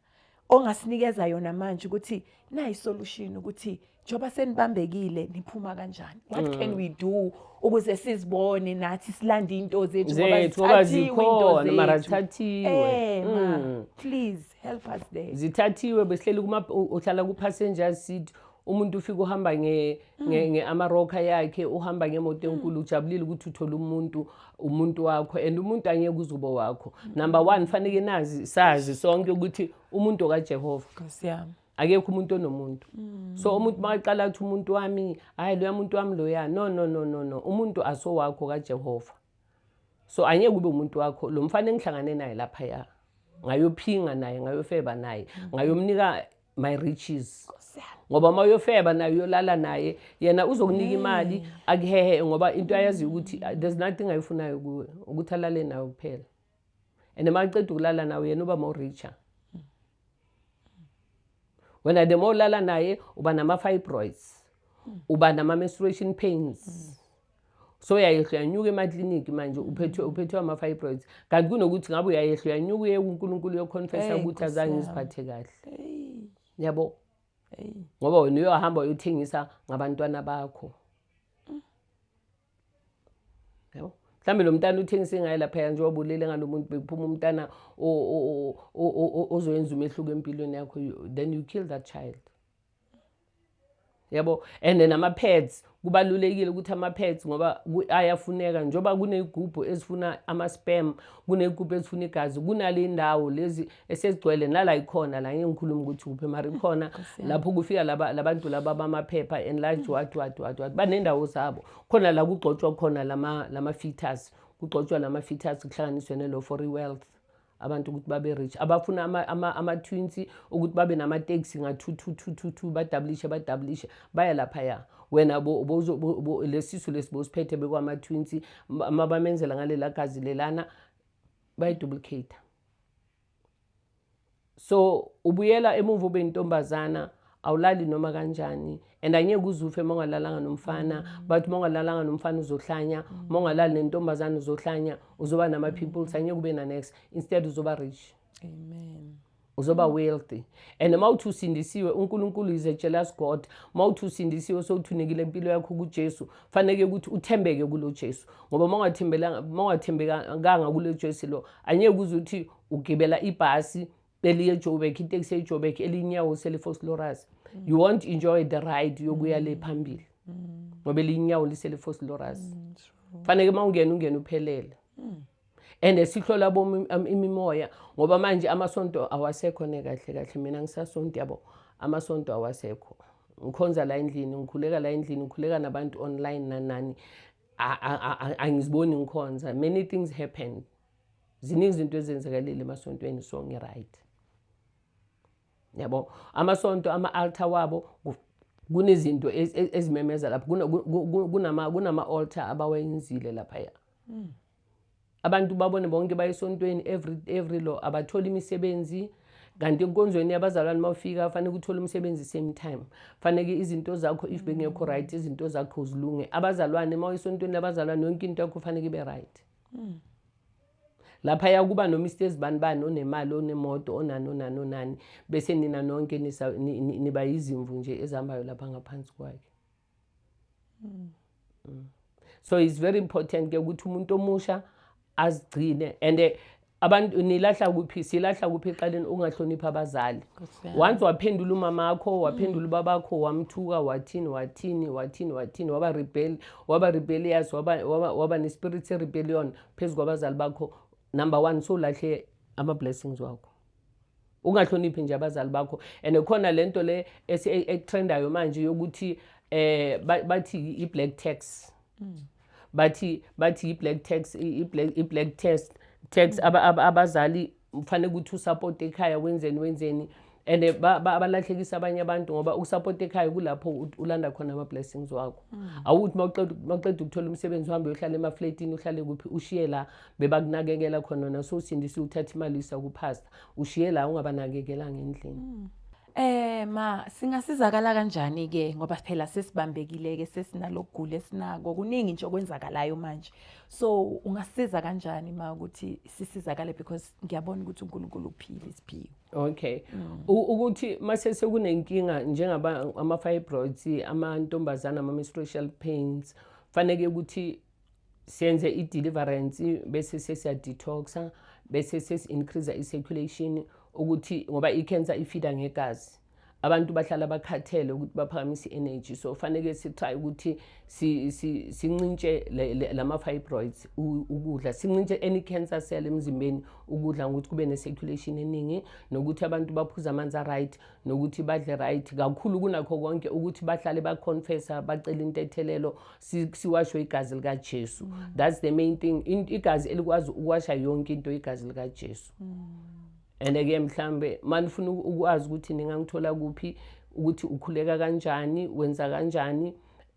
ongasinikeza yona manje ukuthi nayi solution ukuthi njengoba senibambekile niphuma kanjani what mm. can we do ukuze sizibone nathi silande into zethu ngoba zikhona mara zithathiwe eh, mm. please help us there zithathiwe besihleli kuma uhlala ku passenger seat umuntu ufika uhamba nge mm. nge, nge amaroka yakhe uhamba ngemoto enkulu ujabulile ukuthi uthola umuntu umuntu wakho and umuntu angeke uzubo wakho number 1 fanele nazi sazi sonke ukuthi umuntu kaJehova Nkosi yami akekho umuntu onomuntu mm. so umuntu makaqala ukuthi umuntu wami hhayi loya muntu wami loya no no no no no umuntu asowakho kajehova so angeke ube umuntu wakho lo mfana engihlangane naye laphaya ngayophinga naye ngayofeba naye mm. ngayomnika my riches ngoba uma uyofeba naye uyolala naye yena uzokunika imali mm. akuhehe ngoba into ayaziyo ukuthi there's nothing ayifunayo kuwe ukuthi alale nayo kuphela and maqeda ukulala nawe yena uba more richer wena the more ulala naye uba nama-fibroids uba nama-menstruation pains mm. so uyayehla uyanyuka emakliniki manje uphethwe uphethwe ama-fibroids kanti kunokuthi ngabe uyayehla uyanyuka uye kunkulunkulu uyokhonfesa ukuthi azange ngiziphathe kahle yabo ngoba wena uyohamba uyothengisa ngabantwana bakho yabo mhlawumbe lo mntana uthengise ngaye laphaya nje wabulele ngalo muntu bekuphuma umntana ozoyenza umehluko empilweni yakho then you kill that child yabo and then ama-pads kubalulekile ukuthi ama-pads ngoba ayafuneka njengoba kuney'gubhu ezifuna ama-spam kuney'gubhu ezifuna igazi kunale ndawo lezi esezigcwele nala ikhona la ngikhuluma ukuthi kuphi mara ikhona lapho kufika laba labantu laba bamaphepha and la jwad wad wad wad banendawo zabo khona la kugcotshwa khona lama lama fetus kugcotshwa lama fetus kuhlanganiswe ne law for wealth abantu ukuthi babe rich abafuna ama-twinsi ama, ama ukuthi babe namateksi nga-two-two-two-two-two badablishe badablishe baya laphaya wena lesisu lesi bosiphethe bekwama-twinsi mabamenzela ngalela gazi lelana bayiduplicate so ubuyela emuva ube intombazana awulali noma kanjani and angeke uzufe uma ungalalanga nomfana mm. but uma ungalalanga nomfana uzohlanya mm. uma ungalali nentombazane uzohlanya uzoba nama-peoples mm. angeke ube nanext instead uzoba rich amen uzoba wealthy and uma uthi usindisiwe unkulunkulu is a jealous god uma uthi usindisiwe sowuthunekile impilo yakho kujesu faneke ukuthi uthembeke kulo jesu ngoba uma ungathembekanga kulo jesu lo Angeke uze uthi ugibela ibhasi eliye eJoburg, iteksi eJoburg elinyawo selifoslorus. Mm. You won't enjoy the ride yokuya le mm. phambili. Mm. Ngoba elinyawo liselifoslorus. Mm, Faneke mawungena ungena uphelele. Mm. and sihlola bo um, imimoya ngoba manje amasonto awasekho ne kahle kahle mina ngisasonto yabo amasonto awasekho ngikhonza la endlini ngikhuleka la endlini ngikhuleka nabantu online nanani angiziboni ngikhonza many things happen ziningi izinto ezenzakalile emasontweni so ngi-right yabo amasonto ama-altar wabo kunezinto ezimemeza lapho kunama-altar abawayenzile laphaya hmm. abantu babone bonke baye esontweni every, every law abathole imisebenzi kanti enkonzweni yabazalwane uma ufika fanele uthole umsebenzi same time faneke izinto zakho if bengekho right izinto zakho zilunge abazalwane uma uyisontweni labazalwane yonke into yakho faneke ibe right mm. lapha yakuba noma isto ezibani bani onemali onemoto onani onani onani bese nina nonke niba yizimvu nje ezihambayo lapha ngaphansi kwakhe so it's very important ke ukuthi umuntu omusha azigcine and eh, abantu nilahla kuphi silahla kuphi eqaleni ungahloniphi abazali once waphendula umama wakho waphendula ubaba wakho wamthuka wathini wathini wathini wathini waba rebel waba rebellious waba waba, waba nespirit se rebellion phezu kwabazali bakho number 1 so lahle ama blessings wakho ungahloniphi nje abazali bakho and khona lento le esitrendayo manje yokuthi eh bathi i-black tax mm. bathi bathi i-black tax i-black i-black test tax mm. abazali kufanele ukuthi usupport ekhaya wenzeni wenzeni and eh, abalahlekisa abanye abantu ngoba ukusapota ekhaya kulapho ulanda khona ama-blessings wakho mm. awukuthi mawuqeda ukuthola umsebenzi uhambe uyohlala emafletini uhlale kuphi ushiye la bebakunakekela khona nasosindisa uthatha imali isa kuphasta ushiye la ungabanakekela ngendlini mm. Eh ma singasizakala kanjani ke ngoba phela sesibambekile ke sesinalokugula esinako kuningi nje okwenzakalayo manje so ungasiza kanjani ma ukuthi sisizakale because ngiyabona ukuthi uNkulunkulu uphila isiphiwo Okay mm. ukuthi mase sekunenkinga njengaba ama fibroids amantombazana ama menstrual pains fanele ukuthi senze i-deliverance bese sesiya-detoxa bese sesi-increase i-circulation ukuthi ngoba i-cancer ifida ngegazi abantu bahlala bakhathele ukuthi baphakamise i-energy so faneke si-try ukuthi sincintshe lama-fibroids ukudla sincintshe any cancer cell emzimbeni ukudla ngokuthi kube ne-circulation eningi nokuthi abantu baphuze amanzi a-right nokuthi badle right kakhulu kunakho konke ukuthi bahlale baconfessa bacele intethelelo siwashwe igazi likaJesu mm. that's the main thing igazi elikwazi ukwasha yonke into igazi likaJesu mm. and ke mhlambe manifuna ukwazi ukuthi ningangithola kuphi ukuthi ukhuleka kanjani wenza kanjani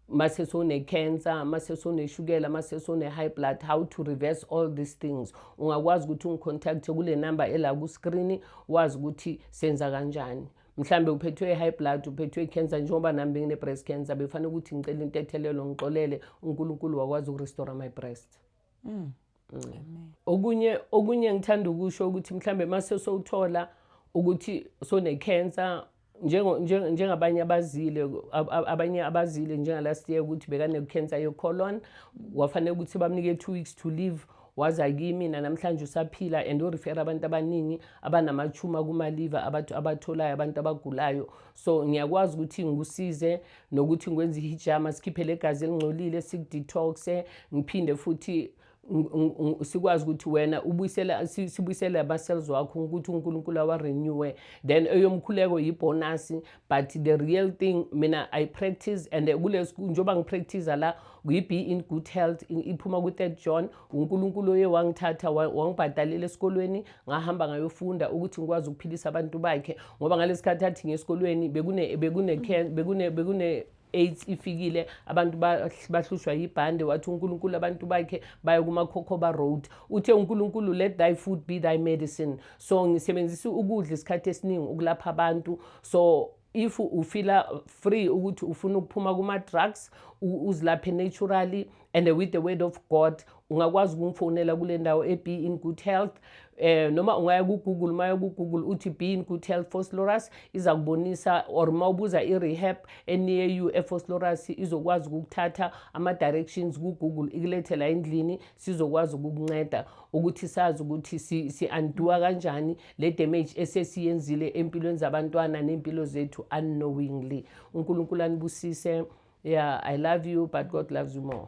mase sone-cancer mase soneshukela mase sone-high blood how to reverse all these things ungakwazi ukuthi ungicontacthe kule number ela kuscreen wazi ukuthi senza kanjani mhlambe uphethwe i-high blood uphethwe i-cancer njengoba nami bengine-breast cancer bekufanele ukuthi ngicela intethelelo ngixolele unkulunkulu wakwazi ukurestore my breast mm. Mm. okunye okunye ngithanda ukusho ukuthi mhlambe mase sowuthola ukuthi sone-cancer njengabanye abazile abanye abazile njengalast year ukuthi bekane-cancer yocolon wafanele ukuthi bamnike two weeks to live waza kimi nanamhlanje usaphila and urefera abantu abaningi abanamachuma kumaliva abathu abatholayo abantu abagulayo so ngiyakwazi ukuthi ngikusize nokuthi ngikwenze ihijama sikhiphe legazi elingcolile sikudetoxe ngiphinde futhi sikwazi ukuthi wena ubuyisela sibuyisele ama-cells wakho ukuthi unkulunkulu awarenewe then eyomkhuleko yibhonasi but the real thing mina i practice and eh, kulesiku njengoba ngipractice la kuyi-be in good health iphuma ku-third john unkulunkulu oye wangithatha wangibhadalela esikolweni ngahamba ngayofunda ukuthi ngikwazi ukuphilisa abantu bakhe ngoba ngalesi khathi athi ngesikolweni bekune bekune bekune bekune AIDS ifikile abantu bahlushwa yibhande wathi uNkulunkulu abantu bakhe baye kumakhokhoba road uthe uNkulunkulu let thy food be thy medicine so ngisebenzisa ukudla isikhathi esiningi ukulapha abantu so if ufila free ukuthi ufuna ukuphuma kuma-drugs uzilaphe naturally and with the word of god ungakwazi ukungifonela kule ndawo e-be in good health eh noma ungaya ku-google uma ku-google uthi be in good health foslorus iza kubonisa or uma ubuza i-rehab enear you efoslorus izokwazi ukukuthatha ama-directions ku-google ikulethela endlini sizokwazi ukukunceda ukuthi sazi ukuthi si-anduwa si kanjani le damage esesiyenzile empilweni zabantwana ney'mpilo zethu unknowingly unkulunkulu anibusise yeah i love you but god loves you more